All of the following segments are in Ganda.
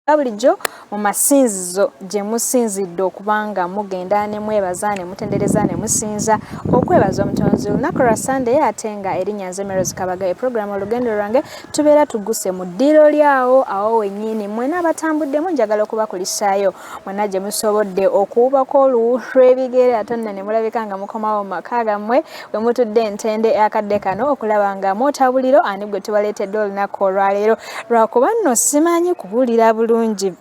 nga bulijjo mu masinzizo gye musinzidde okuba nga mugenda ne mwebaza ne mutendereza ne musinza okwebaza omutonzi olunaku lwa sande ate nga erinnya nze meros kabaga eprogramu olugendo lwange tubeera tuguse mu ddiiro lyawo awo wennyini mwena abatambuddemu njagala okubakulisaayo mwena gye musobodde okuwubako oluwu lw'ebigere ate nno ne mulabika nga mukomawo mu maka gammwe bwe mutudde entende akadde kano okulaba nga mwota buliro ani gwe tubaleetedde olunaku olwaleero lwakuba nno simanyi kubuulira bulungi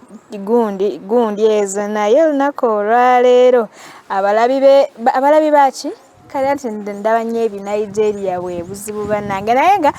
gundi gundi ezo naye olunaku olwaleero abalabi baaki kale ati ndaba nnyo ebinigeria bwe buzibu bannange naye nga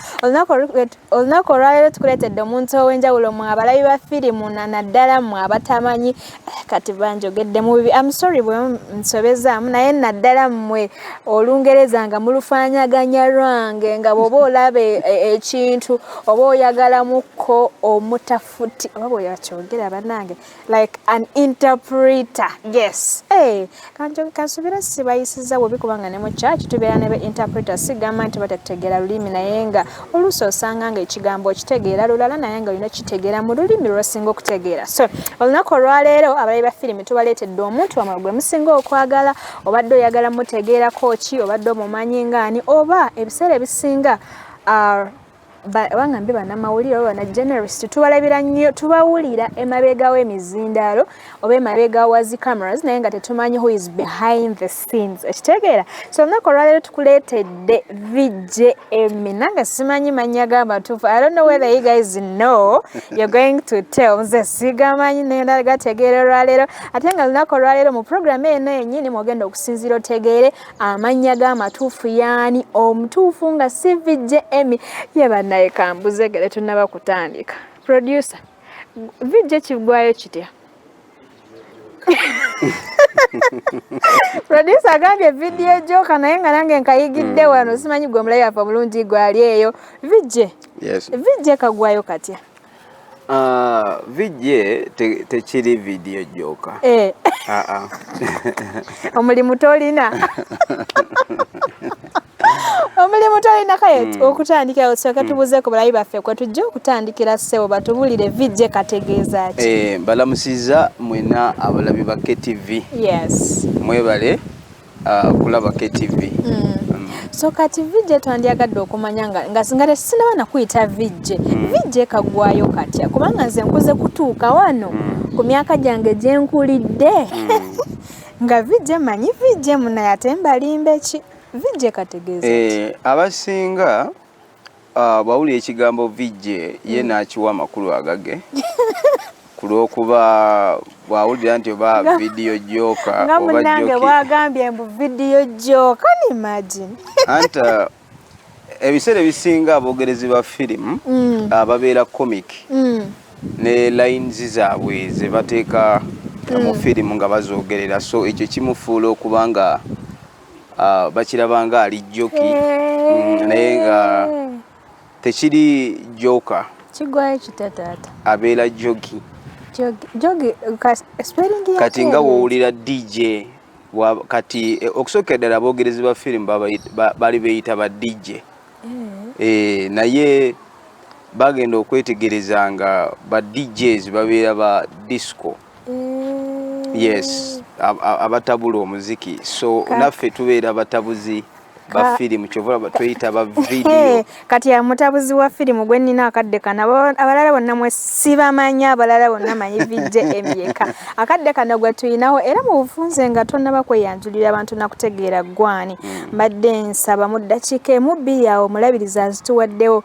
olunaku olwaleero tukuleetedde omuntu ow'enjawulo mwe abalabi ba firimu nanaddala mwe abatamanyi eh, kati banjogedde mu bibi am sorry bwe nsobezaamu naye naddala mmwe olungereza nga mulufaanaganya lwange nga bw'oba olaba e, e, ekintu oba oyagalamo kko omutafuti oba bwe yakyogera bannange like an interpreter yes hey, kanti kansubira sibayisiza webi kubanga ne mu church tubeera nebe interpreter sigamba nti batategeera lulimi naye nga oluusi osanga nga ekigambo okitegeera lulala naye nga olina okitegeera mu lulimi lwosinga okutegeera so olunaku olwaleero abalabi ba firimu tubaleetedde omuntu wamwe gwe musinga okwagala obadde oyagala mutegeerako ki obadde omumanyi ngaani oba ebiseera ebisinga are bangambe banamawulire oba bana generalist tubalabira nnyo tubawulira emabega w'emizindaalo oba emabega wa zi cameras naye nga tetumanyi who is behind the scenes ekitegeera so olunaku olwaleero tukuleetedde vjm nange simanyi mannya ga matuufu i don't know whether you guys know you're going to tell nze sigamanyi naye ndagategeera olwaleero ate nga olunaku olwaleero mu programu eno yenyini mwogenda okusinziira otegeere amannya ge amatuufu yaani omutuufu nga cvj emy ye bannaye kambuze gale tunaba kutandika producer vijja ekigwayo kitya producer agambye vidiyo ejoka naye nga nange nkayigidde hmm. wano simanyi gwe omulayi afa bulungi gwali eyo vijje vijje kagwayo katya Ah, vidye tekiri vidiyo gyoka eh. ah, ah. omulimu tolina omulimu tolina kaye hmm. okutandikira osooke hmm. tubuuzeku balayi baffe kwe tujja okutandikira ssebo batubulire vidye kategeeza ki eh, balamusiza mwena abalabi ba ktv yes mwebale uh, kulaba KTV mm. so kati vijje twandyagadde okumanya nga nga singa tesinaba nakuyita vijje mm. vijje kagwayo katya kubanga nze nkuze kutuuka wano mm. ku myaka gyange gye nkulidde mm. nga vijje manyi vijje munaye ate mbalimba eki vijje kategeeza eh, abasinga Ah, bwawulira ekigambo VJ ye mm. n'akiwa amakulu agage ku lw'okuba bwawulira nti oba vidiyo jooka nga munange bwagambye mbu vidiyo jooka ni imagine anti ah, ebiseera ebisinga abogerezi ba firimu mm. ah, babeera comic mm. ne lines zaabwe ze bateeka mu firimu nga bazoogerera so ekyo kimufuula okuba nga ah, bakiraba nga ali joki mm, naye nga tekiri joka kigwayo kitya taata abeera jogi kati nga wowulira dj kati eh, okusooka eddala abogerezi ba firimu bali beyita ba dj eh. Eh, naye bagenda okwetegereza nga ba djs babeera ba disco mm. yes abatabula omuziki so naffe tubeera batabuzi ba firimu kyova tweyita ba vidiyo kati amutabuzi wa firimu gwe nnina akadde kano abalala bonna mwe sibamanyi abalala bonna manyi vijje emyeka akadde kano gwe tulinawo era mu bufunze nga tonnaba kweyanjulira abantu nakutegeera ggwani mm. mbadde nsaba mu ddakiika emu bbiri awo omulabiriza nzituwaddewo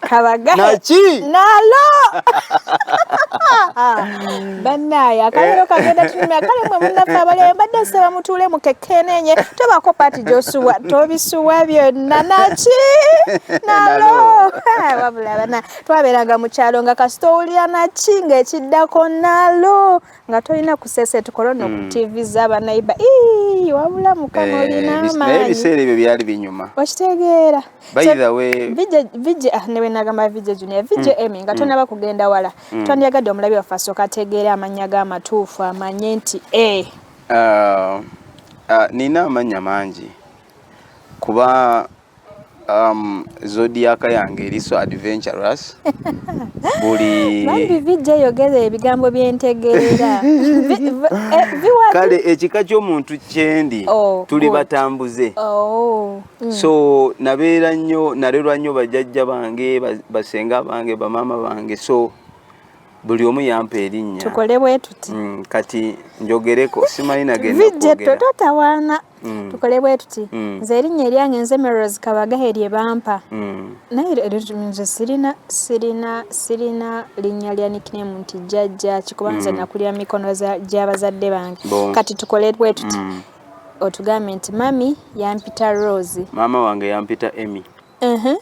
kabagahe naki nalo banaye akalero eh. kagenda tunyumya kale mwe munafe abalere mbadde nsaba mutuule mukekenenye tobako paati gyosubwa tobisubwa byonna naki nalo wabula bana twabeeranga mu kyalo nga kasita owulira naki ng'ekiddako nalo nga tolina kuseseti korona hmm. okutiviza abanayiba wabula mukama eh, olina amaanyi ebiseera ebyo byali binyuma okitegeera vije ah, newenagamba vije junior vije hmm. emi nga hmm. tonaba kugenda wala twandiyagadde omulabi waffe asooka ategeera amannya g'amatuufu amanye nti e eh. ah, ah, nina amannya mangi kuba um, zodiac yange eri so adventurous buli bambi vijja eyogera ebigambo byentegeera eh, kale ekika ky'omuntu kyendi oh, tuli batambuze oh, mm. so nabeera nnyo nalerwa nnyo bajajja bange basenga bange bamaama bange so buli omu yampa erinnya tukole bwe tuti mm, kati njogereko simanyi nagendavijetto totawaana mm. tukole bwe tuti mm. nze erinnya eryange nze meros kabagahe lye bampa mm. naye nze sirina sirina sirina linnya lya niknemu nti jjajja kikuba nze mm. nakulira mikono gy'abazadde bange bon. kati tukole bwe tuti mm. otugambye nti mami yampita rose maama wange yampita emy uh -huh.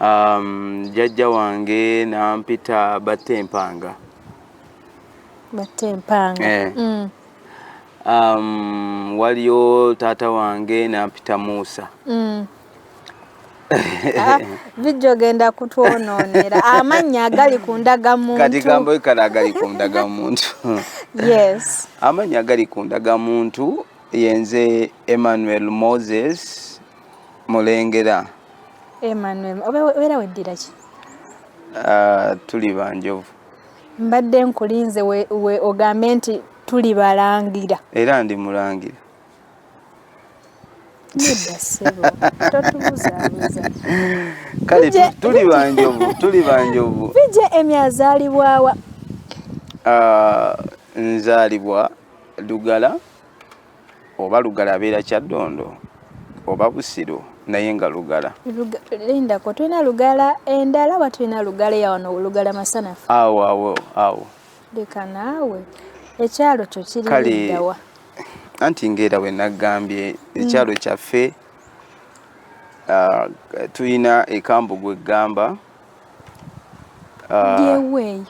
Um, jajja wange nampita batte empanga batte empanga eh. mm. um, waliyo taata wange nampita muusa mm. Ah, bijja ogenda kutwononera amannya agali ku ndagamuntu kati gambo kale agali ku ndagamuntu yes amannya agali ku ndagamuntu yenze emmanuel moses mulengera Emmanuel obeera weddira ki ah, tuli banjovu mbadde nkulinze we ogambe nti tuli balangira era ndi mulangira kale tuli banjovu tuli banjovu bije emi azaalibwawa ah, nzaalibwa lugala oba lugala abeera kyaddondo oba busiro naye nga lugala lindako tulina lugala endala oba tulina lugala eyawano lugala masanafu awo awo awo leka naawe ekyalo kyo kiridawa anti ngaera we naggambye mm. ekyalo kyaffe ah, tulina ekambugu eggamba ah. byeweeyo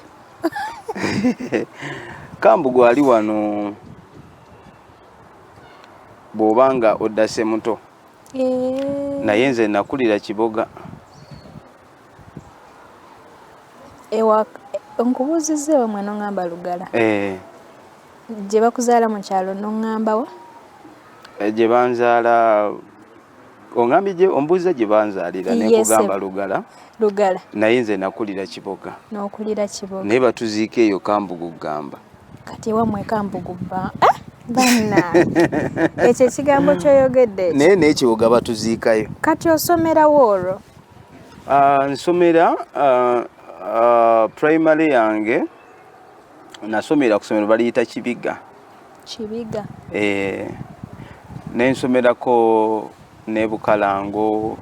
kambu gwali wano bw'oba nga oddase muto eh. naye nze nakulira kiboga nkubuuzizza ewa mwana oŋŋamba lugala eh. gye bakuzaala mu kyalo n'oŋŋambawa eh, gye banzaala ongambye gye ombuuza gye banzaalira ne nkugamba lugala lugala naye nze nakulira kiboga n'okulira kiboga naye batuziika eyo kambugu gamba kati ewamwe kambugu ba eh? banna ekyo ekigambo kyoyogedde naye n'ekiboga batuziikayo kati osomerawo olwo ah, nsomera ah, ah, primary yange nasomera ku somero baliyita kibiga Kibiga. Eh, nensomerako ne Bukalango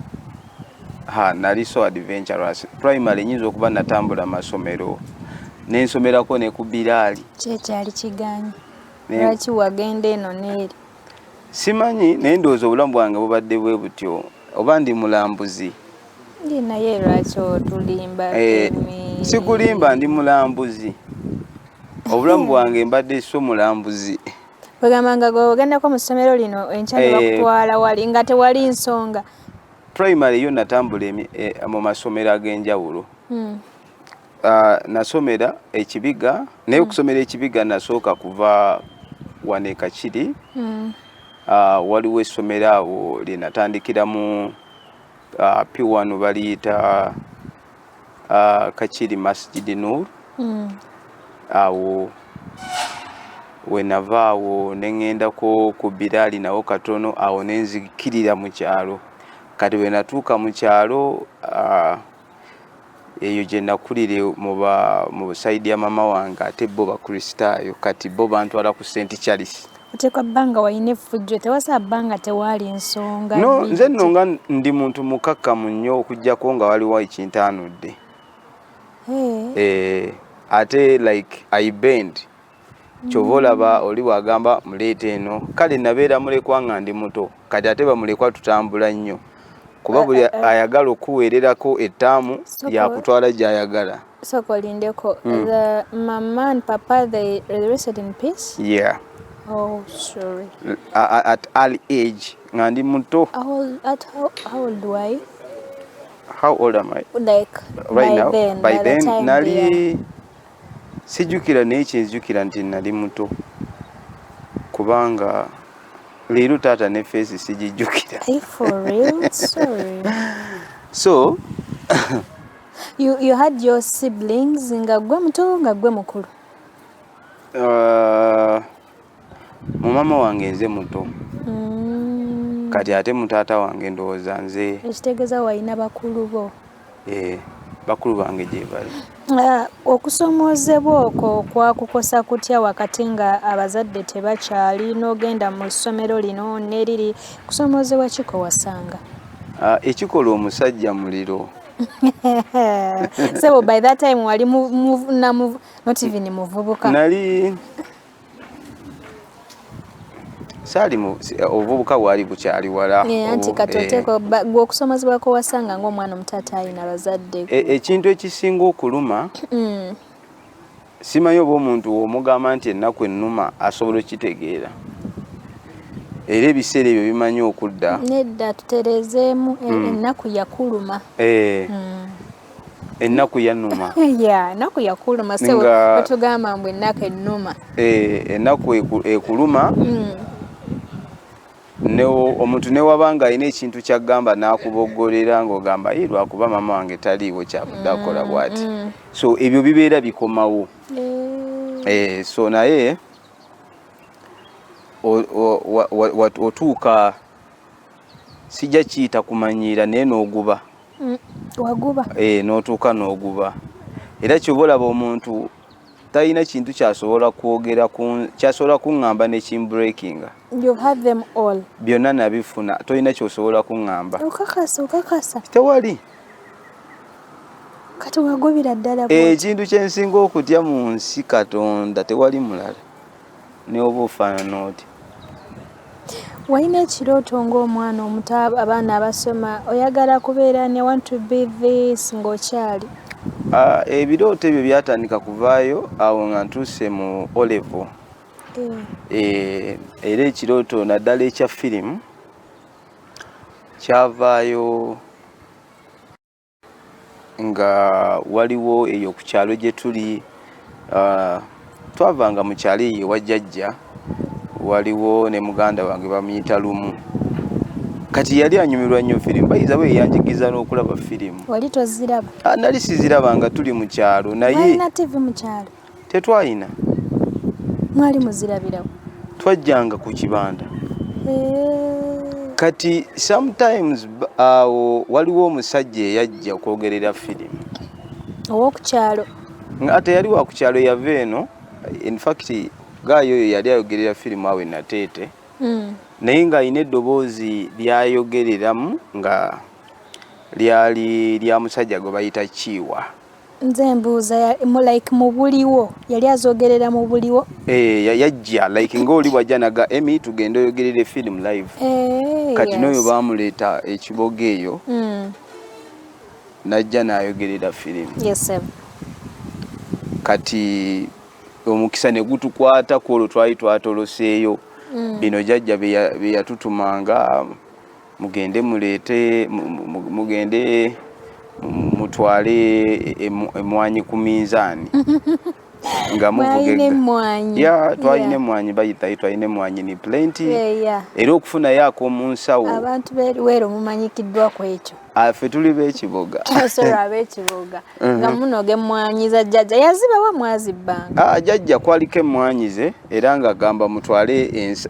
ha nali so adventurous primary nyinza okuba natambula masomero nensomerako ne ku Bilali. Kyekyali kiganyi. Lwaki wagenda eno n'eri? Simanyi naye ndowooza obulamu bwange bubadde bwe butyo. oba ndi mulambuzi naye lwaki otulimba eh, sikulimba ndi mulambuzi obulamu bwange mbadde so mulambuzi ogamba nga gweogendako mu ssomero lino enkya ne eh. bakutwala wali nga tewali nsonga primary yo natambula eh, mu masomero ag'enjawulo hmm. Uh, nasomera ekibiga naye mm. okusomera ekibiga nasooka kuva wane kakiri mm. uh, waliwo essomero awo lyenatandikiramu uh, piwano baliyita uh, kakiri masjidi nur mm. awo uh, wenava awo neŋendako ku biraali nawo katono awo nenzikirira mu kyalo kati wenatuuka mu kyalo uh, eyo gye nakulire mu sayidi ya mama wange ate bo bakristaayo kati bo bantwala ku st charles oteekwa bbanga walina effujjo tewasa bbanga tewaali nsonga no nze nno nga ndi muntu mukakkamu nnyo okugyako nga waliwo ekintaanudde eh. Eh, ate like i bend kyova olaba oli bwagamba muleeta eno kale nabeera mulekwa nga ndi muto kati ate bamulekwa tutambula nnyo kuba eh, buli eh, eh. ayagala okuweererako ettaamu yakutwala gyayagala soko lindeko mm. the mama and papa they rested in peace yeah oh sorry at, at early age nga ndi muto how, at how, how old do i how old am i like right by now then, by, by then nali yeah. sijjukira naye kyenzijukira nti nali muto kubanga leero taata ne feesi sigijjukira so you, you had your siblings nga gwe muto nga gwe mukulu uh, mu mama wange nze muto mm. kati ate mu taata wange ndowooza nze ekitegeeza walina bakulu bo ee eh, bakulu bange gyebali ah, okusomoozebwa okwo kwakukosa kutya wakati nga abazadde tebakyali n'ogenda mu ssomero lino neriri kusomoozebwa kiko wasanga ah, ekikola omusajja muliro so by that time wali not even muvubuka nali saali obuvubuka bwali bukyali wala eh, anti kati eh. oteeka gwe okusomozebwa kwe wasanga ng'omwana omuto atayina bazadde e, ekintu ekisinga okuluma mm. simanyi oba omuntu omugamba nti ennaku ennuma asobola okitegeera era ebiseera ebyo bimanyi okudda nedda tutereezeemu e, mm. ennaku yakuluma eh. mm. ennaku yanuma ennaku yakuluma wetugamba mbu ennaku ennuma eh, ennaku ekuluma mm. omuntu newaba nga alina ekintu kyagamba nakuboggolera ngaogamba ye lwakuba maama wange taliiwo kyavudde akola mm, bwati mm. so ebyo bibeera bikomawo eh. so naye otuuka sijja kiyita kumanyiira naye n'oguba mm, waguba eh, n'otuuka n'oguba era kyoba olaba omuntu talina kintu kyasobola kwogera kyasobola kuŋŋamba ne kimbreakinga byonna nabifuna tolina kyosobola kuŋŋamba tewali ekintu kyensinga okutya mu nsi katonda tewali mulala ne oba ofaanana otya walina ekirooto ng'omwana omuto abaana abasoma oyagala kubeera ne want to be this ng'okyali ah, ebirooto ebyo byatandika kuvaayo awo nga ntuuse mu olevo eh. eh, era ekirooto naddala ekya firimu kyavaayo nga waliwo eyo ku kyalo gye tuli ah, twavanga mu kyalo eyo ewa jjajja waliwo ne muganda wange bamuyita lumu kati yali anyumirwa nnyo firimu bayiza bwe yanjigiza n'okulaba firimu wali toziraba ah, nali siziraba nga tuli mu kyalo naye tetwalina mwali muzirabirawo twajjanga ku kibanda kati sometimes awo waliwo omusajja eyajja okwogerera firimu owokukyalo nga teyali wakukyalo yava eno infact gaayo oyo yali ayogerera firimu awo enateete hmm. naye nga alina eddoboozi lyayogereramu nga lyali lya musajja gwe bayita kiiwa nze mbuuza like mubuliwo yali azogerera mubuliwo eh, yajja like ngaoli wajja naga emi tugenda oyogerere film live eh, kati noyo bamuleeta ekiboga eyo hmm. najja nayogerera film kati omukisa negutukwata kwolwo twali twatoloseeyo hmm. bino jajja beyatutumanga mugende muleete mugende mutwale emwanyi ku minzaani nga muvugemmwanyi ya twalina emmwanyi bayitayo twalina emmwanyi ni pulenti era okufunayo ak'omunsawo abantu beruweero mumanyikiddwa ku ekyo ah, ffe tuli b'ekiboga ah, mhm. nga munoga emmwanyi za jjajja yazibawa mwazibbanga ah, jajja kwaliko emmwanyi ze era nga gamba mutwale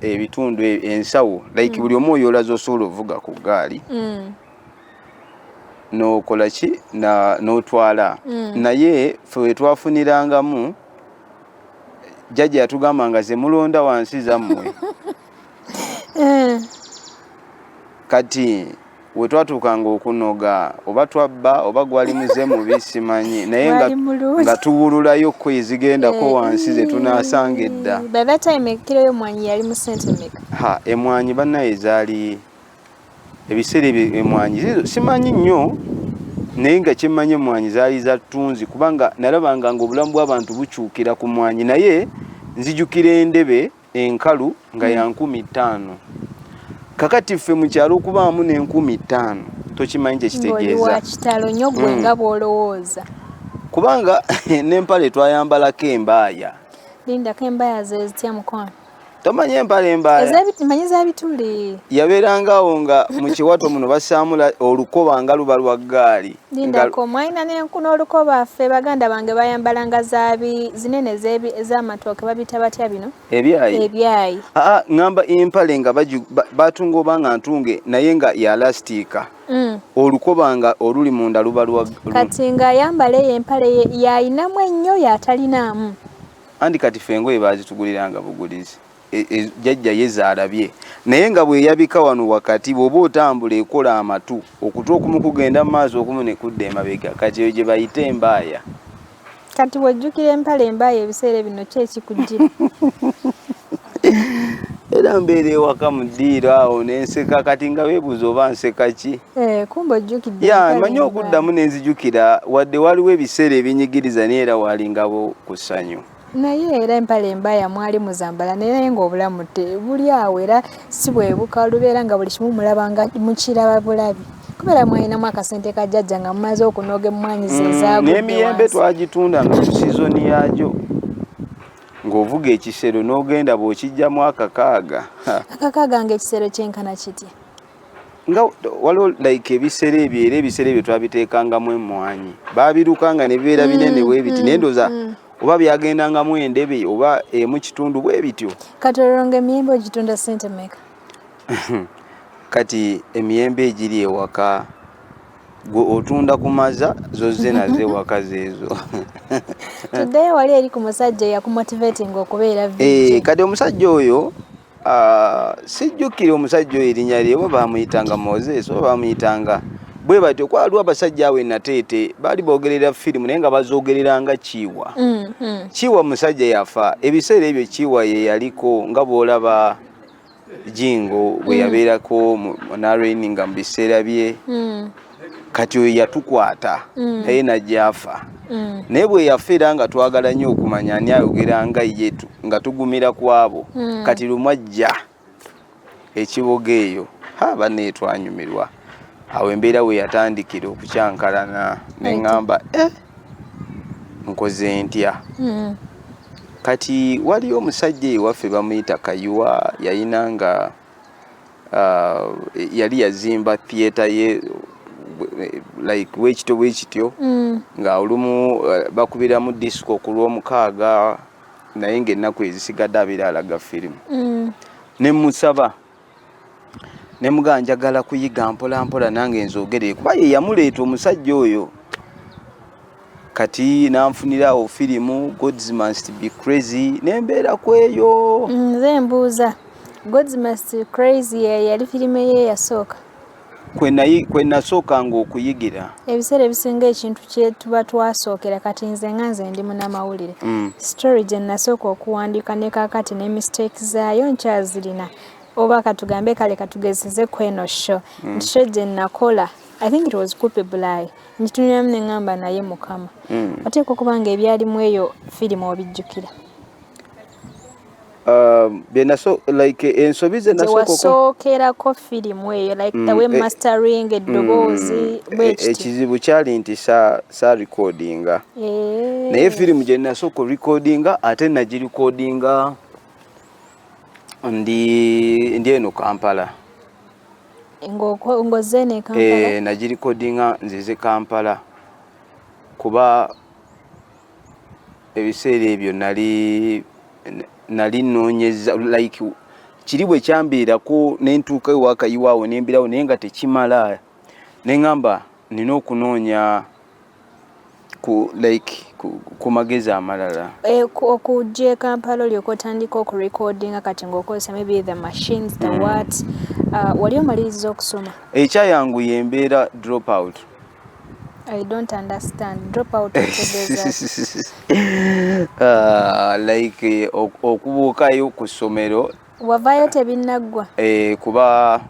ebitundu e, ensawo like mm. buli omu oyoola zosobola ovuga ku ggaali mm. nokola ki notwala mm. naye fe wetwafunirangamu jajja yatugamba nga zemulonda wansi zammwe eh. kati wetwatuukanga okunoga oba twabba oba gwali muze mubi simanyi naye nga tuwululayo ko ezigendako eh. wansi zetunasanga edda ha emwanyi banaye zaali ebiseera ebyo emwanyi simanyi nnyo naye nga kyemmanyi emwanyi zaali za ttunzi kubanga nalabanga nga obulamu bw'abantu bukyukira ku mwanyi naye nzijukira endebe enkalu nga ya nkumi ttaano kakati ffe mu kyalo okubaamu n'enkumi ttaano tokimanyi kyekitegeeza kitalo nyo gwe hmm. nga bwolowooza kubanga n'empale twayambalako embaaya lindako embaaya zezitya mukwano tomanyi empale embaayamanyi zabituli yabeerangaawo nga mu kiwato muno basaamula olukoba nga luba lwa ggaali Lindako mwalina nenku n'olukoba ffe baganda bange bayambalanga zaabi zinene ez'amatooke babita batya bino ebyayi ŋŋamba ah, ah, empale nga batunga oba nga ntunge naye nga ya lasitiika mm. olukoba nga oluli munda luba lwa kati ng'ayambala eyo empale yayinamu ennyo yatalinaamu andi kati ffe engoye baazituguliranga bugulizi E, e, jajja yeza alabye naye nga bweyabika wano wakati bwoba otambula ekola amatu okutu okumu kugenda mu maaso okumu nekudda emabega kati eyo gyebayita embaaya kati wejjukira empala embaaya ebiseera bino ki ekikujjira era mbeera ewaka mu ddiiro awo nenseka kati nga webuuza oba nseka ki eh, kumba ojjukidde ya manyi okuddamu nenzijukira wadde waliwo ebiseera ebinyigiriza naye era walingabo ku ssanyu Naye era empale embaya mwali muzambala naye nga obulamu buli awo era si bwebuka olubeera nga buli kimu mulaba nga mukiraba bulabi kubeera mwalinamu akasente ka jajja nga mumaze okunoga emmwanyi ze mm, zaagnemiyembe twagitunda nga ku sizoni yagyo ng'ovuga ekisero n'ogenda bw'okijjamu akakaaga akakaaga nga ekisero kyenkana kitya nga waliwo like ebiseera ebyo era ebiseera ebyo twabiteekangamu emmwanyi baabirukanga ne bibeera binene mm, bwe biti mm, naye ndoza mm. oba byagendangamu endebe oba emu kitundu bwe bityo kati olonga emiyembe ogitunda sente meka kati emiyembe egiri ewaka gwe otunda ku maza zozze nazo ewaka zeezo tuddeyo wali eri ku musajja eyakumotivatinga okubeera eh, kati omusajja oyo Ah, sijjukira omusajja oyo erinnya lye oba baamuyitanga moses oba baamuyitanga bwe batyo kwaliwo abasajja awo enateete baali boogerera firimu naye nga bazoogereranga kiiwa mm, mm. kiiwa musajja yafa ebiseera ebyo kiiwa ye yaliko nga bw'olaba jingo bwe mm. yabeerako mu nrn nga mu biseera bye kati oyo yatukwata mm. naye najaafa mm. naye bwe yafa era nga twagala nnyo okumanya ani ayogera nga ye nga tugumira ku abo mm. kati lumu ajja ekiboga eyo ha banne etwanyumirwa awo embeera we yatandikira okukyankalana ne ŋŋamba e eh, nkoze ntya kati waliyo omusajja ewaffe bamuyita kayuwa yayina nga uh, yali yazimba theatre ye like wekityo bwekityo mm. nga olumu uh, bakubiramu disco ku lwomukaaga naye ngaennaku ezisigadde abira alaga firimu mm. nemusaba nemugaa njagala kuyiga mpolampola nange nzogeree kuba yeyamuleeta omusajja oyo kati nanfunirawo firimu gods must be crazy nembeera kweyo nze mbuuza gods must be crazy yali firimu eye yasooka kwe nasookanga okuyigira ebiseera ebisinga ekintu kyetuba twasookera kati nze nga nze ndi munamawulire mm. story gye nasooka okuwandiika ne kakati ne mistake zaayo nkyazirina oba katugambe kale katugezeze kweno sho mm. nti sho gye nakola mm. I think it was Kupe Bulai. Njituniramu ne ngamba naye mukama. Mm. Oteekwa okuba nga ebyali mu eyo firimu obijjukira. Um, byenaso like ensobi ze nasookerako firimu eyo like mm, the way eh, mastering eddoboozi mm, e, ekizibu kyali nti sa, sa recordinga eh. naye firimu gye nasooka recordinga ate nagirecordinga ndi ndi eno kampala eh, nagirikodinga nzize kampala kuba ebiseera ebyo nali nali nonyeza like kiri bwe kyambeerako nentuuka ewakayiwaawo nembirawo naye nga tekimala nengamba nina okunoonya ku like ku magezi amalala eh, okujja e kampala olyoka otandika okurecordinga kati ngaokozesa maybe the machines the mm. what uh, wali omaliriza okusoma ekyayangu yembeera drop out I don't understand. Drop out of the uh, like eh, okubuukayo ku ssomero wavayo tebinaggwa eh, kuba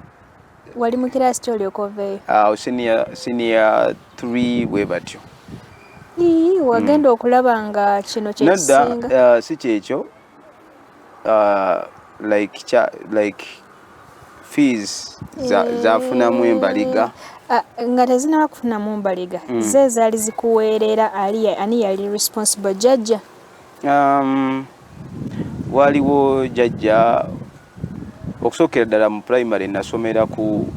wali mu kiraasi ki olyoka oveeyo awo ah, siniya siniya three bwe batyo wagenda hmm. okulaba nga kino kyekisinga ah, si kyekyo ah, like cha, like fees za, eh, zafunamu embaliga ah, nga tezinaba kufunamu mbaliga mm. ze zaali zikuweerera ali ani yali responsible jajja Um, waliwo jajja okusookera ddala mu primary nasomera ku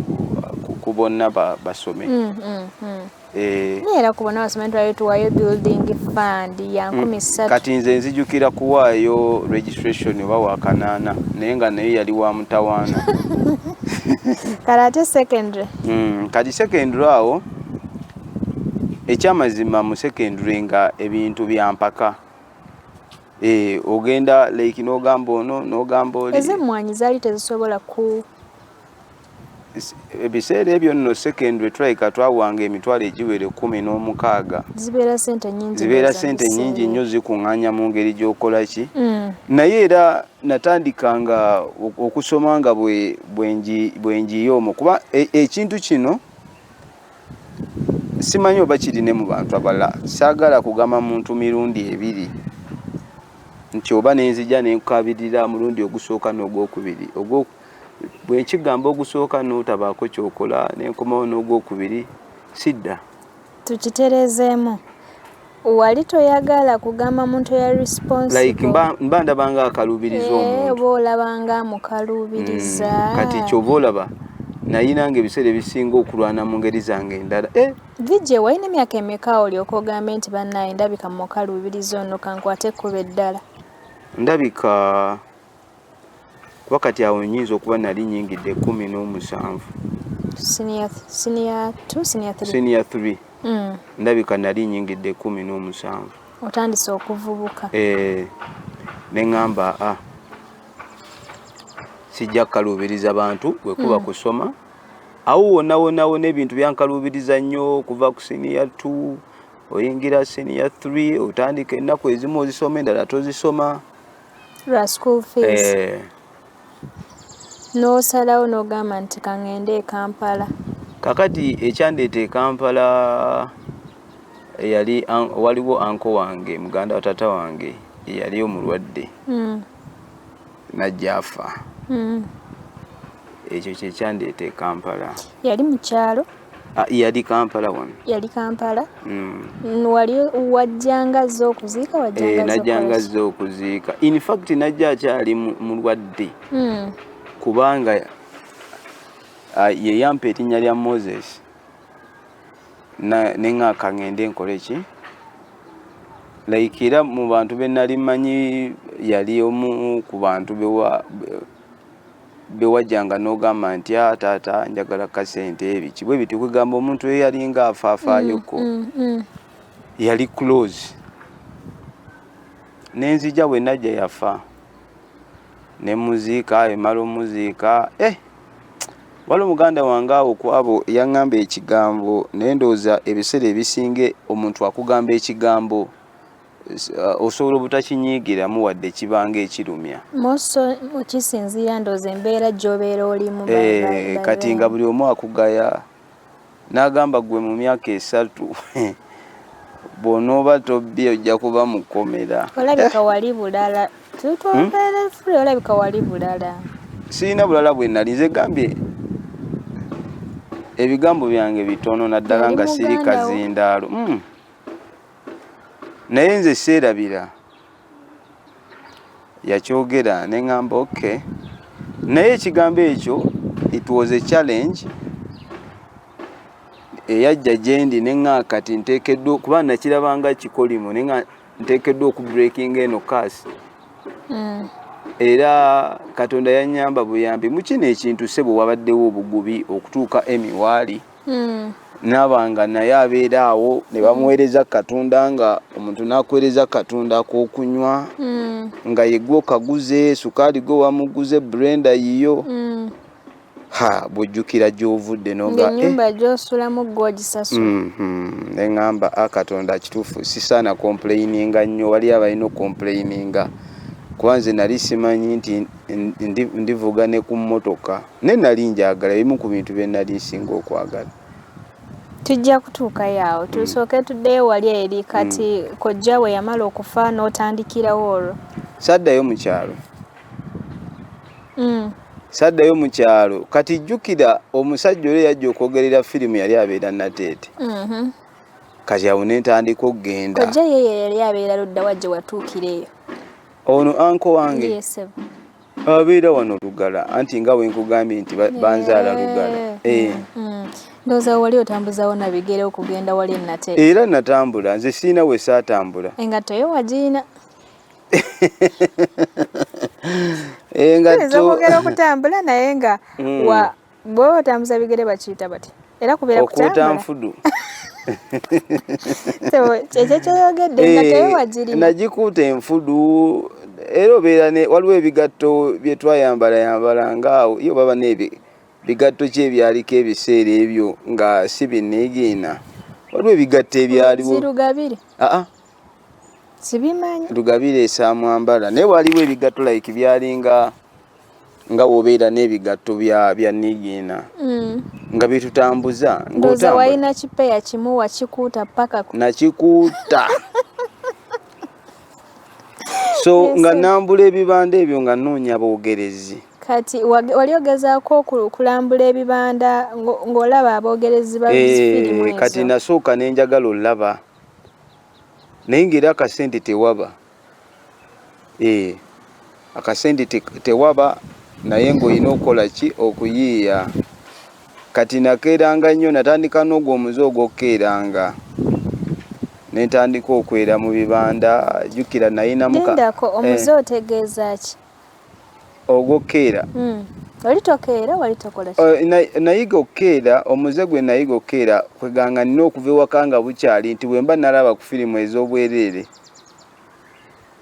ku bonna basome mm, mm, mm. Eh, era ku bonna basome twali tuwayo building fund ya nkumi ssatu kati nze nzijukira kuwaayo registration oba wakanaana naye nga naye yali wa mutawaana kati ate secondary kati secondary awo ekyamazima mu secondary nga ebintu bya mpaka eh, ogenda like nogamba ono nogamba oli ezemmwanyi zaali tezisobola ku ebiseera ebyo nno secondary tulabika twawanga emitwalo egiwera ekkumi n'omukaaga zibeera sente nyingi zibeera sente nyingi nnyo zikuŋŋaanya mu ngeri gy'okola ki mm. naye era natandika nga okusoma nga bwenjiye omwo kuba e, ekintu kino simanyi oba kiri ne mu bantu abala saagala kugamba muntu mirundi ebiri nti oba nenzija nenkukabirira mulundi ogusooka n'ogwokubiri bwenkigamba ogusooka n'otabaako kyokola nenkomawo n'ogwokubiri sidda tukitereezeemu Wali toyagala kugamba muntu ya responsible. Like mba, mba ndaba nga akalubiriza eh, omuntu. Oba olaba nga amukalubiriza. Mm, kati kyova olaba naye nange ebiseera ebisinga okulwana mu ngeri zange endala eh? vijje walina emyaka emeka olyoka ogambe nti bannaye ndabika mukaluubiriza ono kankwate ekkuba eddala ndabika kuba kati awo nyinza okuba nali nyingidde kumi n'omusanvu siniya 3 mm. ndabika nali nyingidde kumi n'omusanvu otandise okuvubuka eh, neŋamba a ah, sijja kukaluubiriza bantu wekuba mm. kusoma awo wonawonawona ebintu byankaluubiriza nnyo okuva ku siniya 2 oyingira siniya 3 otandika ennaku ezimu ozisoma endala tozisoma lwa school fees eh. n'osalawo n'ogamba nti kaŋŋende e kampala kakati ekyandeeta e kampala eyali waliwo anko wange muganda wa taata wange eyali omulwadde hmm. najja afa hmm. ekyo kyekyandeeta e kampala yali mukyalo Ah, yali kampala wano yali kampala mm. wali wajjanga azze okuziika wajjanga azze eh, okuziika in fact najja akyali mulwadde mm. kubanga ah, yeyampa erinnya lya moses neŋaka ŋende nkole ki like era mu bantu benali manyi yali omu ku bantu bewa bewajjanga n'ogamba nti a ah, taata njagala kasente ebiki bwe biti kwegamba omuntu eyo yalinga afaafayoko mm, mm, mm. yali close nenzija bwe najja yafa ne muziika emala omuziika eh wali omuganda wange awo kwabo yaŋŋamba ekigambo naye ndowooza ebiseera ebisinga omuntu akugamba ekigambo uh, osobola obutakinyiigiramu wadde kibanga ekirumya kisinziira ndoozi embeera gyobeera olimu eh, kati nga buli omu akugaya n'agamba gwe mu myaka esatu bw'onooba tobbi ojja kuba mu kkomera olabika eh. wali bulala tutwambeerefuli hmm? olabika wali bulala sirina bulala bwe nali nze gambye ebigambo byange bitono naddala nga siri kazindaalo hmm. naye nze seerabira yakyogera ne ŋŋamba ok naye ekigambo ekyo it was a challenge eyajja gyendi ne ŋa kati nteekeddwa kuba nakirabanga kikolimo ne nga nteekeddwa okubreakinga eno kaasi hmm. era katonda yannyamba buyambi mu kino ekintu sebo wabaddewo obugubi okutuuka emi waali mm. hmm. nabanga naye abeera awo ne bamuweereza katonda nga omuntu nakuweereza katonda kokunywa hmm. nga yegwe okaguze sukaali gwe wamuguze brenda yiyo hmm. ha bwojjukira gyovudde nogaenyumba eh. gyosulamu gwogisasula mm-hmm. neŋamba a ah, katonda kituufu sisaana kompuleyininga nnyo wali abalina okompuleyininga kuba nze nali simanyi nti ndivuga ne ku mmotoka Naye nali njagala ebimu ku bintu bye nali nsinga okwagala. Tujja kutuukayo awo hmm. tusooke tuddeyo wali eri hmm. kati kojja we yamala okufa n'otandikirawo olwo. Saddayo mu kyalo. Hmm. Saddayo mu kyalo kati jjukira omusajja oli yajja okwogerera firimu yali abeera nateete. Mm-hmm. Kati awo ne ntandika okugenda. Kojja ye yali abeera ludda wa gye watuukira eyo? Ono anko wange. Yes, ababeera wano lugala anti nga wenkugambye nti banzaala lugala eh. Eh. Mm, mm. ndowooza wali otambuzawo nabigere okugenda wali nate era natambula nze siina we saatambula engatto yo wagiina engatto okutambula naye nga mm. Bw'oba otambuza bigere bakiyita batya? Era kubeera kutambula. Okuuta nfudu. Ekyo kyoyogedde nga eh, tewewagiri. Nagikuuta enfudu era obeera ne waliwo ebigatto bye twayambala yambala nga yo baba n'ebi bigatto ki ebyaliko ebiseera ebyo nga si binniigiina. Waliwo ebigatto ebyaliwo. Zirugabire. Aa. Ah, ah. Sibimanyi. Lugabire esaamwambala naye waliwo ebigatto like byalinga. nga wobeera n'ebigatto bya bya nigiina mm. nga bitutambuza ngoza walina kipeya kimu wakikuuta paka nakikuuta so yes, nga nambula ebibanda ebyo nga noonya boogerezi kati wali ogezaako okulambula ebibanda ng'olaba aboogerezi babifirimu eh, kati nasooka nenjagala olaba naye ng'era akasente tewaba Eh, akasente tewaba naye ng'olina okukola ki okuyiiya kati nakeeranga nnyo natandika n'ogwo omuze ogw'okukeeranga ne ntandika okwera mu bibanda jjukira nayinamugendako eh. omuze otegeeza ki ogw'okukeera hmm. oli tokeera wali tokola oh, nayiga okukeera omuze gwe nayiga okukeera kweganga nina okuva ewaka nga bukyali nti bwemba nalaba ku firimu ez'obwereere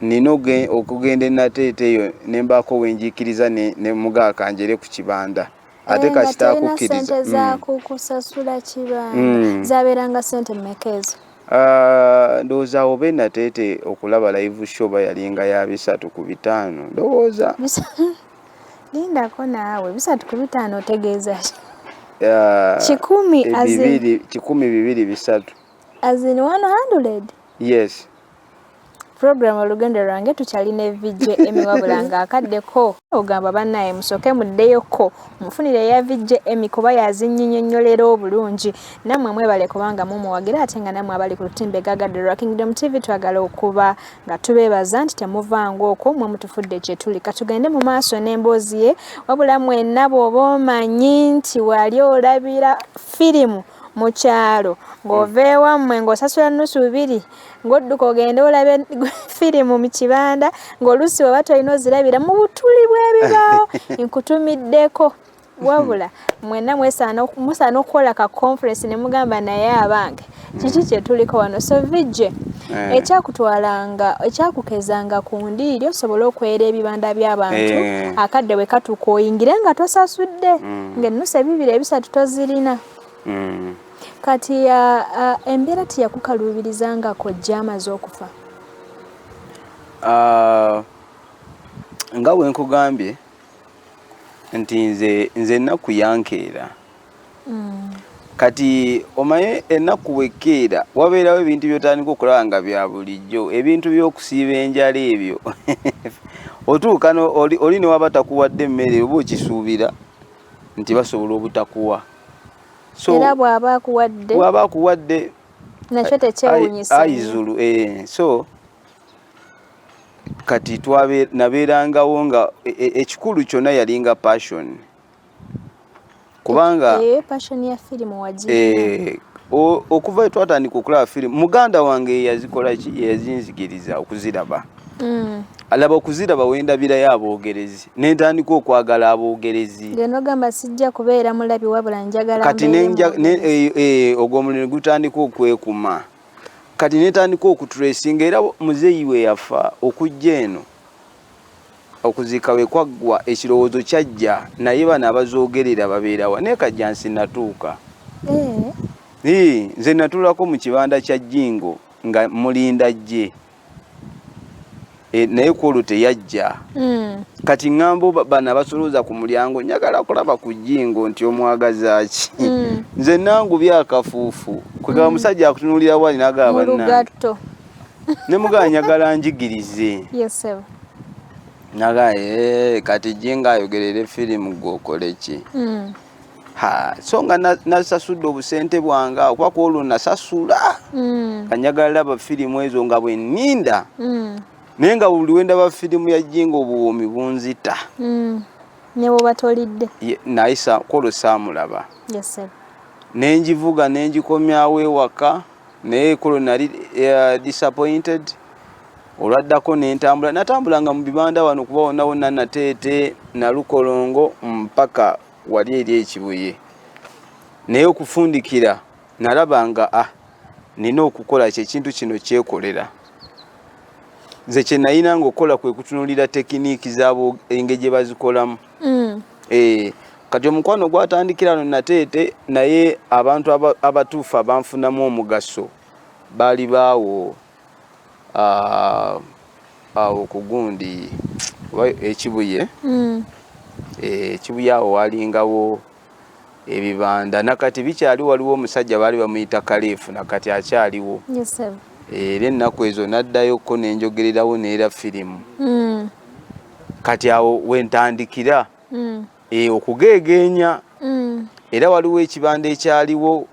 Nnina okugenda e Nateete eyo ne mbaako we njiikiriza ne mugaa kanjere ku kibanda ate kasita akukkiriza. Naye nga tolina ssente za mm. kukusasula kibanda mm. zabeeranga ssente mmeka ezo? Ah, ndowooza awo be Nateete okulaba live show bayalinga ya bisatu ku bitaano ndowooza. Lindako naawe bisatu ku bitaano otegeeza ki? Ah, kikumi bibiri bisatu. As in 100? Yes. Program olugendo lwange tukyalina evijja emi wabula nga akaddeko ogamba bannaye musooke muddeyoko mufunire eya vijja emi kuba yazinyinyonyolera obulungi nammwe mwebale kubanga mumuwagira ate nga nammwe abali ku lutimbe gagaddolwa kingdom tv twagala okuba nga tubeebaza nti temuvaanga okwo mwe mutufudde kyetuli katugende mu maaso n'emboozi ye wabula mwenna bw'oba omanyi nti wali olabira firimu mu kyalo ng'ova hmm. ewammwe ng'osasula nnusu bibiri ng'odduka ogende olabe firimu mu kibanda ng'oluusi weba tolina ozirabira mu butuli bw'ebibaawo nkutumiddeko wabula mwena musaana okukola ka conference ne mugamba naye abange kiki hmm. kyetuliko wano so vijje eh. ekyakutwalanga ekyakukezanga ku ndiiri osobole okwera ebibanda by'abantu eh. akadde bwe katuuka oyingire nga tosasudde hmm. ng'ennusu ebibiri ebisatu tozirina mm. kati embeera teyakukaluubiriza nga kojja amaze okufa nga wenkugambye nti nze nze ennaku yankeera mm. kati omaye ennaku bwekkeera wabeerawo ebintu byotandika okulaba nga bya bulijjo ebintu by'okusiiba enjala ebyo otuuka oli ne waba takuwadde emmere oba okisuubira nti basobola obutakuwa era bw'aba akuwadde bw'aba akuwadde nakyo tekyewunyisa ayizulu eh, so kati nabeerangawo nga e, e, ekikulu kyonna yalinga passion kubanga eh, passion ya firimu wagira eh, okuva we twatandika okulaba firimu muganda wange yeyazikola ki yeyazinzigiriza okuziraba mm. alaba okuziraba wendabirayo aboogerezi nentandika okwagala aboogerezi genogamba sijja kubeera mulabi wabula njagala kati eh, ogwo omulimu gutandika okwekuma kati netandika okutresinga era muzeeyi we yafa okujja eno okuziika we kwaggwa ekirowoozo kyajja naye bano abazoogerera babeerawa naye kajja nsinatuuka eh. nze natulako mu kibanda kya jingo nga mulinda jje e, naye kwolwo teyajja hmm. kati ŋŋambo bano abasolooza ku mulyango njagala kulaba ku jingo nti omwagazaaki hmm. nze nangu byakafuufu kwegaba hmm. musajja akutunuulira wali nagaba ne mugala njagala njigirize naga eh, kati jinga ayogerere firimu gwokole ki hmm. ha so nga nasasudde obusente bwange okuba ku olwo nasasula hmm. kanjagala laba firimu ezo nga bwe nninda hmm. naye nga buli wendaba firimu ya jinga obuwoomi bunzita nebwoba tolidde naye kwolwo saamulaba nenjivuga nenjikomyawo ewaka naye kulo nali uh, disappointed olwaddako nentambula natambulanga mu bibanda wano kuba wonna wonna nateete nalukolongo mpaka wali eri ekibuye naye okufundikira nalaba nga a ah, nina okukola kyekintu kino kyekolera nze kyenayina nga okukola kwekutunulira tekiniiki zabo engeri gyebazikolamu mm. eh, kati omukwano gwatandikira no nateete naye abantu abatuufu abanfunamu omugaso baali baawo ah, awo ku gundi ekibuye mm. eh, ekibuye awo walingawo ebibanda nakati bikyali waliwo omusajja baali bamuyita kaleefu nakati akyaliwo era ennaku ezo naddayo ko nenjogererawo neera firimu mm. kati awo wentandikira mm. e, okugeegeenya mm. era waliwo ekibanda ekyaliwo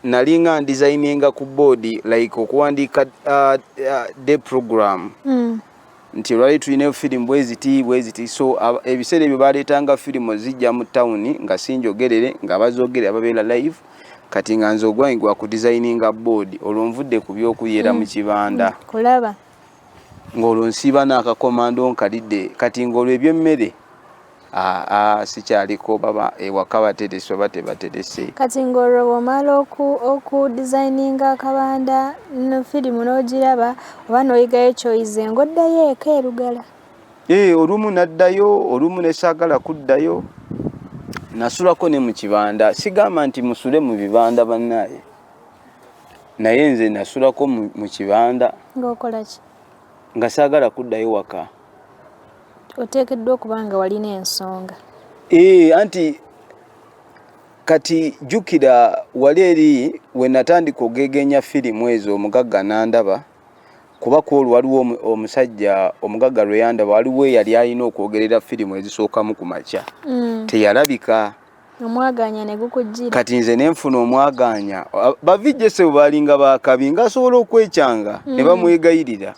nalinga ndizayininga ku boodi like okuwandiika uh, uh, de program nti olwali tulinayo firimu bweziti bweziti so ebiseera ebyo baleetanga firimu zijja mu tawuni nga sinjogerere nga abazogerera babeera live kati nga nze ogwange gwa ku designinga board olwo nvudde ku by'okuyeera mu mm. kibanda mm. kulaba ng'olwo nsiiba n'akakomando nkalidde kati ng'olwo eby'emmere aa sikyaliko baba ewaka baterese oba tebaterese kati ng'olwo bw'omala oku designinga akabanda no firimu n'ogiraba oba n'oyigayo kyoyize ng'oddayo eka erugala ee eh, olumu naddayo olumu nesaagala kuddayo nasulako ne mu kibanda sigamba nti musule mu bibanda bannaaye naye nze nasulako mu kibanda ng'okolaki nga saagala kuddayo waka Oteekeddwa okuba nga walina ensonga. Ee, eh, anti kati jjukira wali eri we natandika ogegeenya firimu ezo omugagga nandaba kuba kwolwo waliwo omusajja omugagga lwe yandaba waliwo eyali alina okwogerera firimu ezisookamu ku makya mm. teyalabika omwagaanya ne gukujjira kati nze ne nfuna omwagaanya bavijjese bwe baalinga baakabi ng'asobola okwekyanga ne mm. bamwegayirira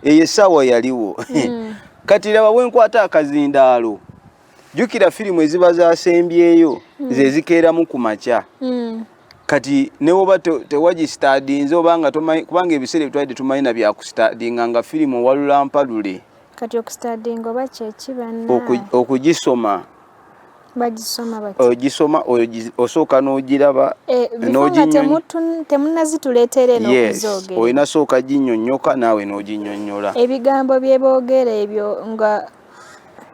eyo essaawa yaliwo hmm. kati laba wenkwata akazindaalo jukira firimu eziba zasembyeyo hmm. zezikeeramu ku makya hmm. kati newoba tewagistadinze obanga tomanyi kubanga ebiseera ebitwalidde tumanyi na byakusitadinga nga firimu owalulampalule kati okustadinga oba kyekibanna okugisoma ogisoma osooka n'ogiraba eh, olina sooka ginyonyoka naawe n'oginyonyola ebigambo bye boogera ebyo nga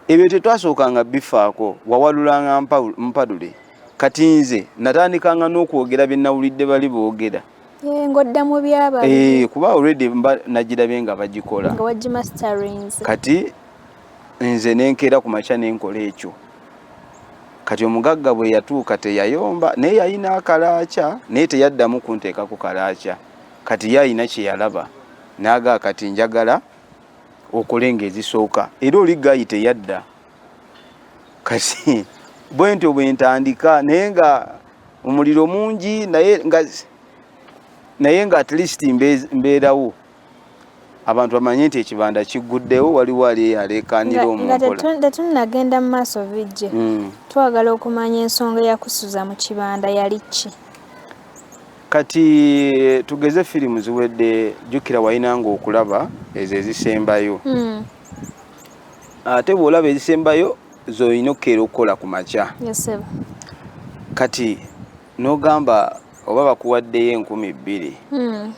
ebyo tetwasookanga bifaako wawalulanga mpadule kati nze natandikanga n'okwogera bye nawulidde bali boogera eh, ng'odda mu byaba eh, kuba already mba nagirabye nga bagikola kati nze nenkeera ku makya nenkola ekyo kati omugagga bwe yatuuka teyayomba naye yalina akalaakya naye teyaddamu kunteeka ku kalaakya kati ye alina kye yalaba naaga kati njagala okole ng'ezisooka era oli gayi teyadda kati bwe ntyo bwe ntandika naye nga omuliro mungi naye nga naye nga at least mbeerawo abantu bamanye nti ekibanda kigguddewo waliwo ali eyo aleekaanira omutetunnagenda mu maaso bijje hmm. twagala okumanya ensonga eyakusuza mu kibanda yali ki kati tugeze firimu ziwedde jjukira walina nga okulaba ezo ezisembayo hmm. ate bw'olaba ezisembayo zolina okukeera okukola ku makya kati nogamba oba bakuwaddeyo enkumi bbiri hmm.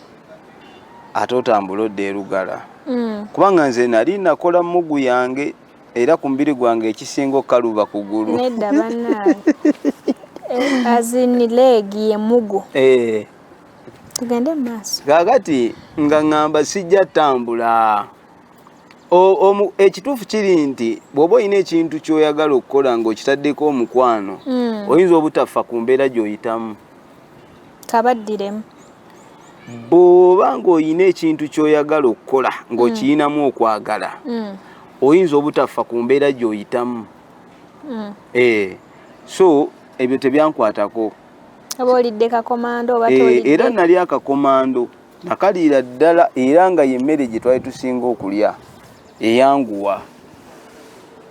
ate otambula odda erugala hmm. kubanga nze nali nakola mugu yange era ku mubiri gwange ekisinga okukaluba kugulu nedda banange eh, azini leegi yemugu eh. tugende mumaaso kakati nga ngamba sijja tambula ekituufu kiri nti bw'oba olina ekintu ky'oyagala okukola ng'okitaddeko omukwano hmm. oyinza obutaffa ku mbeera gy'oyitamu kabaddiremu bw'oba ng'olina ekintu ky'oyagala okukola ng'okiyinamu hmm. okwagala hmm. oyinza obutaffa ku mbeera gy'oyitamu eh, so ebyo tebyankwatako oba olidde kakomando oba eh, tolidde era nali akakomando nakaliira ddala era nga yemmere gye twali tusinga okulya eyanguwa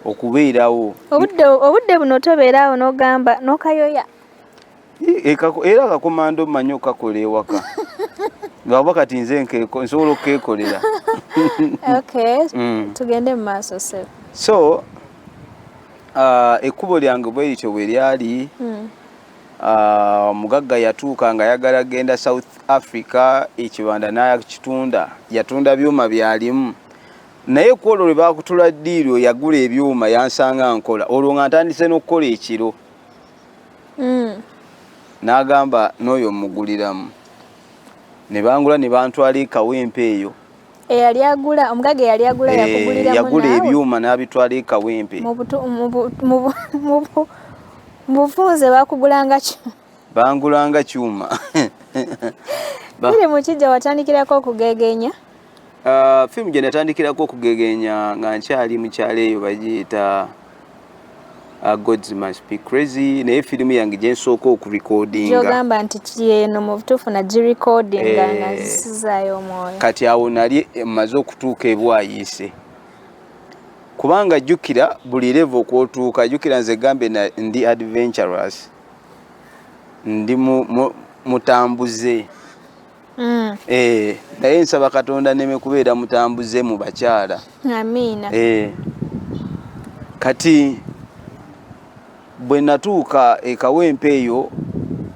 okubeerawo obudde buno tobeeraawo nogamba nokayoya e, era akakomando manyi okakola ewaka ngaoba kati nze nsobola okukekolera mm. tugende mu maaso so uh, ekkubo lyange bwerityo bwe lyali mm. Ah, omugagga uh, yatuuka nga ayagala genda south africa ekibanda nakitunda yatunda byuma byalimu naye ku olwo lwe bakutula ddiiri oyo yagula ebyuma yansanga nkola olwo nga ntandise n'okukola ekiro mm. n'agamba n'oyo omuguliramu ne bangula ne bantwala ekawempe eyo eyali agula omugaga eyali agula yakugulira eh, yagula ebyuma n'abitwala e kawempe mu bufunze bakugulanga kyuma bangulanga kyuma biri mu kijja watandikirako okugegenya ah, firimu gye natandikirako okugegenya nga nkyali mukyalo eyo bagiyita Ah, gods must be crazy naye firimu yange gye nsooka okurekodingaogamba nti kyeno mu butuufu nagirekodinga eh. nga zisizaayo omwoyo kati awo nali maze okutuuka ebwayiise kubanga jjukira buli leva okwotuuka jjukira nze gambe ndi adventurous ndi mutambuze mu, mu Mm. Eh, naye nsaba katonda neme kubeera mutambuze mu bakyala amiina eh, kati bwe natuuka ekawempe eyo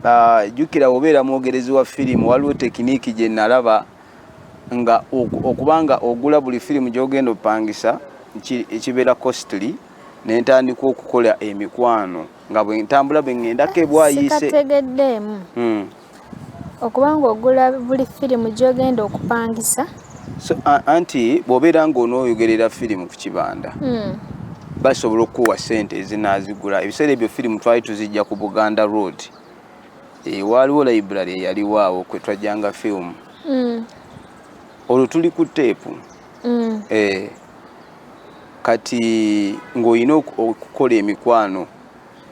ah, jjukira uh, obeera mwogerezi wa firimu waliwo tekiniiki gye nalaba nga okuba nga ogula buli firimu gy'ogenda opangisa ekibeera costly ne ntandika okukola emikwano nga bwe ntambula bwe ŋŋendako ebwayise hmm. okuba ng'ogula buli firimu gy'ogenda okupangisa anti bw'obeera ng'onooyogerera firimu ku kibanda hmm. basobola okukuwa ssente ezinaazigula ebiseera ebyo firimu twali tuzijja ku buganda road eh, waaliwo library eyaliwo awo kwe twajjanga firimu hmm. olwo tuli ku teepu hmm. eh, kati ng'olina okukola emikwano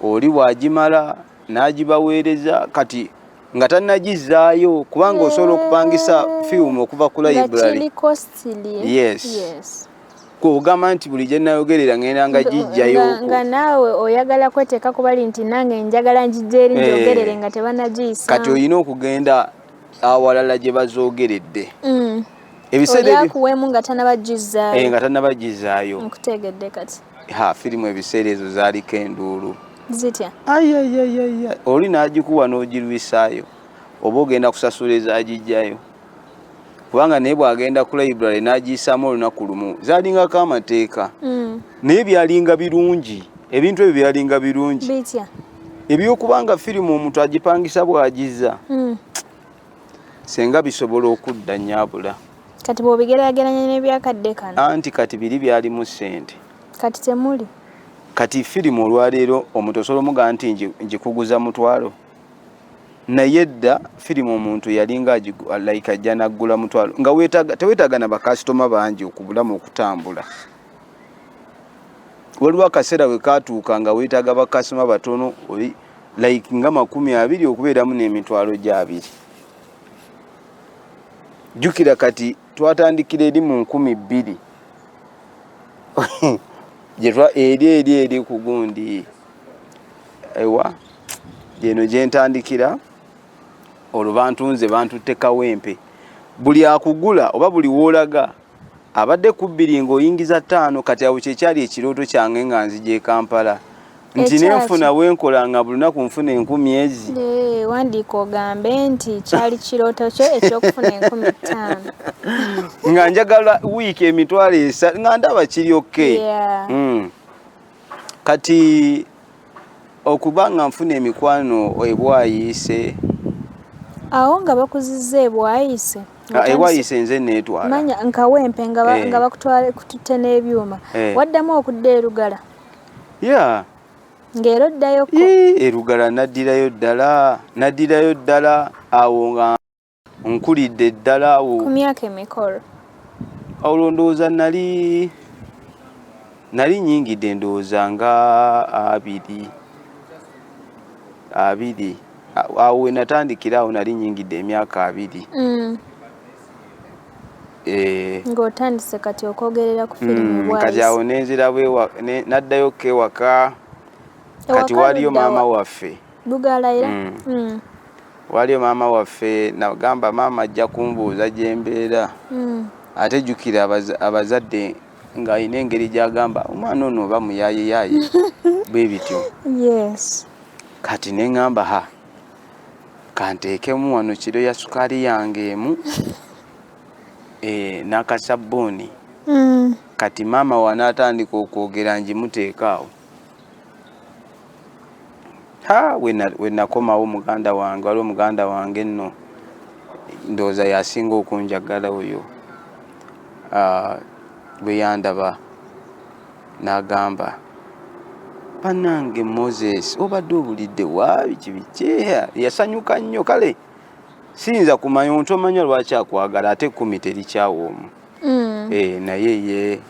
oli bw'agimala n'agibaweereza kati nga tanagizzaayo kubanga osobola okupangisa firimu okuva ku library yes, yes. kwogamba nti buli gye nayogerera ngenda nga gijjayo nga naawe oyagala kweteeka kubali nti nange njagala ngijja eri eh. njogerere nga tebanagiyisa kati olina okugenda awalala gye bazoogeredde mm. ebiseera nga tanabagizaayo eh, nga tanabagizaayo nkutegedde kati ha firimu ebiseera ezo zaaliko enduulu zitya ayayayaya oli n'agikuwa n'ogirwisaayo oba ogenda kusasula ezagijjayo kubanga naye bw'agenda ku library n'agiyisaamu olunaku lumu zaalingako amateeka mm. naye byalinga birungi ebintu ebyo byalinga birungi ebyokubanga firimu omuntu agipangisa bw'agizza mm. senga bisobola okudda nyabula kati bwobigerageranya nebyakadde kano anti kati biri byalimu sente kati temuli kati firimu olwaleero omuntu osobola omuga nti njikuguza mutwalo naye dda firimu omuntu yalinga like ajja naggula mutwalo nga tewetaaga na bakasitoma bangi okubulamu okutambula waliwo akaseera wekatuuka nga wetaaga bakasitoma batono like nga makumi abiri okubeeramu n'emitwalo gyabiri jjukira kati twatandikira eri mu nkumi bbiri gyetwa eri eri eri ku gundi ewa gyeno gyentandikira olwo bantunze bantutte kawempe buli akugula oba buli woolaga abadde kubbiri ng'oyingiza ttaano kati awo kyekyali ekirooto kyange nga nzija e kampala nti nenfuna wenkola nga buli lunaku nfuna enkumi ezi wandiika ogambe nti kyali kirooto kyo ekyokufuna enkumi ttaano nga njagala wiiki emitwalo esa nga ndaba kiri okke hmm. kati Okuba nga nfuna emikwano ebwayiise. Awo nga bakuzizza ebwayiise. Ah, ewayiise nze neetwala. Manya nkawempe nga eh. bakutwala kututte n'ebyuma. Eh. Waddamu okudda erugala. Yeah. Ng'era oddayoko. Erugala naddirayo ddala naddirayo ddala awo nga. nkulidde ddala awo ku myaka emikolo olwo ndowooza nali nali nyingidde ndowooza nga abiri abiri awo we natandikira awo nali nyingidde emyaka abiri mm. eh. ng'otandise kati okwogerera ku firimu mm, kati awo nenzirawo naddayo ko ewaka kati waliyo maama waffe bugaala era mm. Mm. waliyo maama waffe nagamba maama ajja kumbuuza gyembeera mm. ate jukira abazadde ng'alina engeri gyagamba omwana ono oba muyayeyaye bwe bityo kati ne ŋŋamba ha kanteekemu wano kiro ya sukaali yange emu eh, n'akasabbuuni mm. kati maama wanaatandika okwogera ngimuteekaawo ha wenakomawo muganda wange waliwo muganda wange nno ndowooza yasinga okunjagala oyo ah, bwe yandaba n'agamba banange moses obadde obulidde waabi kibikyeya yasanyuka nnyo kale siyinza kumanya omuntu omanya lwaki akwagala ate kumi terikyawa omu mm. eh, naye ye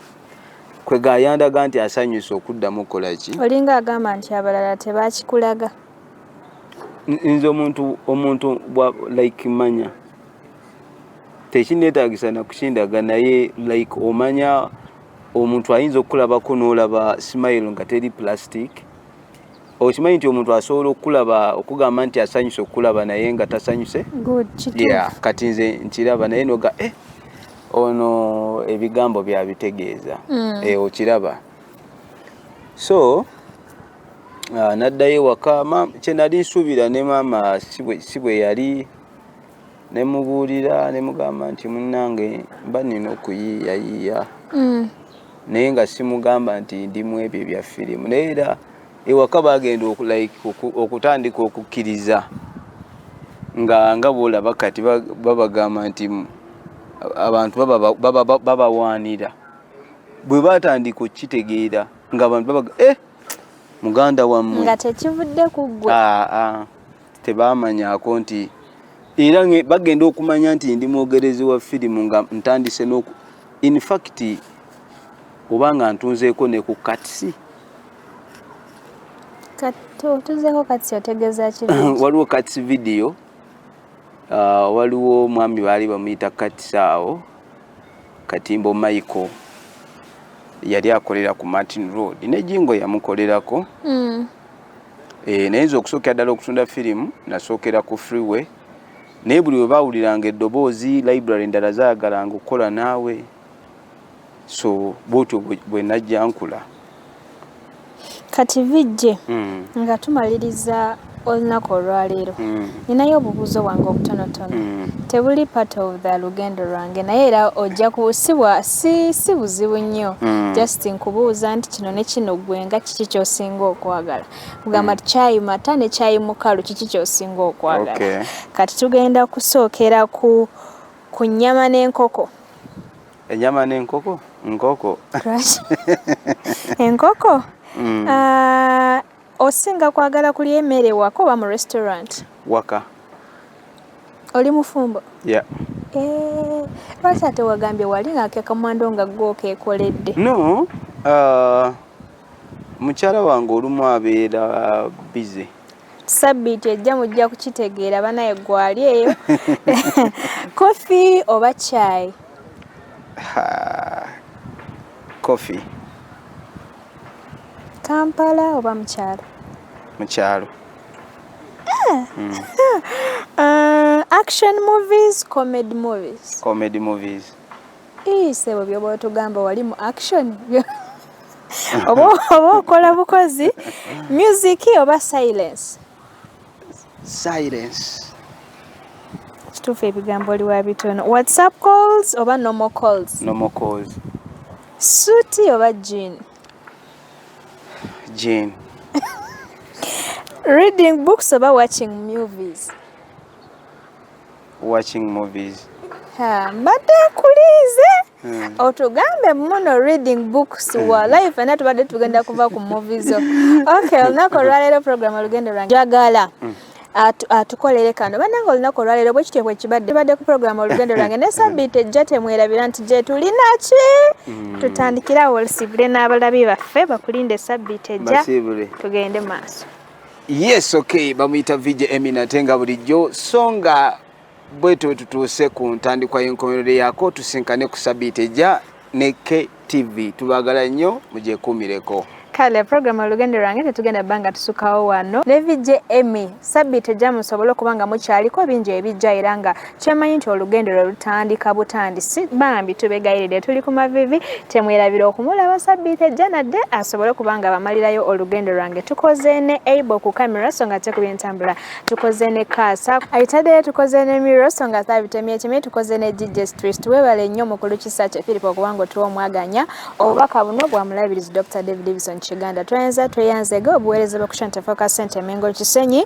kwe gayandaga nti asanyuse okuddamu okukola ki olinga agamba nti abalala tebakikulaga nze omuntu omuntu like manya tekinetagisa nakukindaga naye like omanya omuntu ayinza okukulabako nolaba smile nga teri plastic okimanyi nti omuntu asobola okukulaba okugamba nti asanyuse okukulaba naye nga tasanyuse kati nze nkiraba naye noga eh, ono ebigambo byabitegeeza mm. eh, okiraba so ah, naddayo ewaka kyenali nsuubira ne maama si bwe yali ne mubuulira ne mugamba nti munnange mba nnina okuyiiyayiiya mm. naye nga simugamba nti ndi mu ebyo ebya firimu naye era ewaka bagenda like okutandika okukkiriza nga nga bwolaba kati babagamba nti abantu babawaanira bwe batandika okukitegeera ngaabantu babaga eh, muganda wammwe nga tekivudde ku ggwe ah, ah. tebaamanyako nti era bagenda okumanya nti ndi mwogerezi wa firimu nga ntandise noku infact oba nga ntunzeeko ne ku katsi tuzeeko katsi otegeeza ki waliwo katsi vidiyo ah, waliwo omwami baali bamuyita katsi awo katimbo michael yali akolera ku martin road nejingo yamukolerako mm. Eh, naye nze okusookera ddala okutunda firimu nasookera ku freeway naye buli webawuliranga eddoboozi library endala zayagalanga okukola naawe so bwotyo bwenajja nkula kati vijje hmm. nga tumaliriza olunaku olwaleero hmm. Ninayo obubuuzo bwange obutonotono mm. tebuli part of the lugendo lwange naye era ojja kusibwa si, si buzibu nnyo mm. just nkubuuza nti kino ne kino gwe nga kiki kyosinga okwagala kugamba mm. kyayi mata ne kyayi mukalu kiki kyosinga okwagala okay. kati tugenda kusookera ku, ku nyama n'enkoko enyama n'enkoko nkoko enkoko mm. uh, Osinga kwagala kulya emere ewaka oba mu restaurant? Waka. Oli mufumbo? Yeah. Eh, lwaki ate wagambye wali nga kekamwando nga gwe okekoledde? No. Uh, mukyala wange olumu abeera busy. Sabbiiti ejja mujja kukitegeera banaye gwali eyo. Coffee oba chai? Ha, coffee. Kampala oba mu kyalo? Mu kyalo. Eh. Hmm. Uh, action movies, comedy movies? Comedy movies. Ii, sebo byoba otugamba wali mu action oba okola bukozi music oba silence? silence kituufu ebigambo oli wa bitono whatsapp calls oba normal calls normal calls suuti oba jean jean reading books oba watching movies watching movies ha mbadde nkulinze hmm. otugambe muno reading books hmm. walayi fena tubadde tugenda kuva ku movi zo ok olunaku olwaleero program olugendo lwange jagala hmm. atukolere kano banange olunaku olwaleero bwe kityo bwekibadde tubadde ku programu olugendo lwange ne sabiiti ejja temwerabira nti gye tulina ki tutandikirawo olusibule n'abalabi baffe bakulinde sabiiti ejja tugende maaso Yes, okay, bamuyita VJ Emina ate nga bulijjo so nga bwetyo bwetutuuse ku ntandikwa y'enkomerero yaako tusinkane ku sabiiti ejja ne KTV tubagala nnyo mugyekuumireko. Kale program olugendo lwange tetugenda banga tusukawo wano ne VJ Emmy sabiiti ejja musobole okuba nga mukyaliko bingi ebijja era nga kyemanyi nti olugendo lwe lutandika butandisi bambi tubegayiride tuli ku mavivi temwerabira okumulaba sabbiiti ejja nadde asobole okuba nga bamalirayo olugendo lwange tukoze ne able ku kamera so nga tekubye ntambula tukoze ne kaasa ayitadeyo tukoze ne miro so nga thabitemye ekimi tukoze ne gigestwist webale nnyo mukulu kisa kye philip okuba nga otuwa omwaganya obubaka buno bwa mulabirizi dr david davison kiganda tweyanza tweyanzege obuweereza bwekushantefokasente emengo kisenyi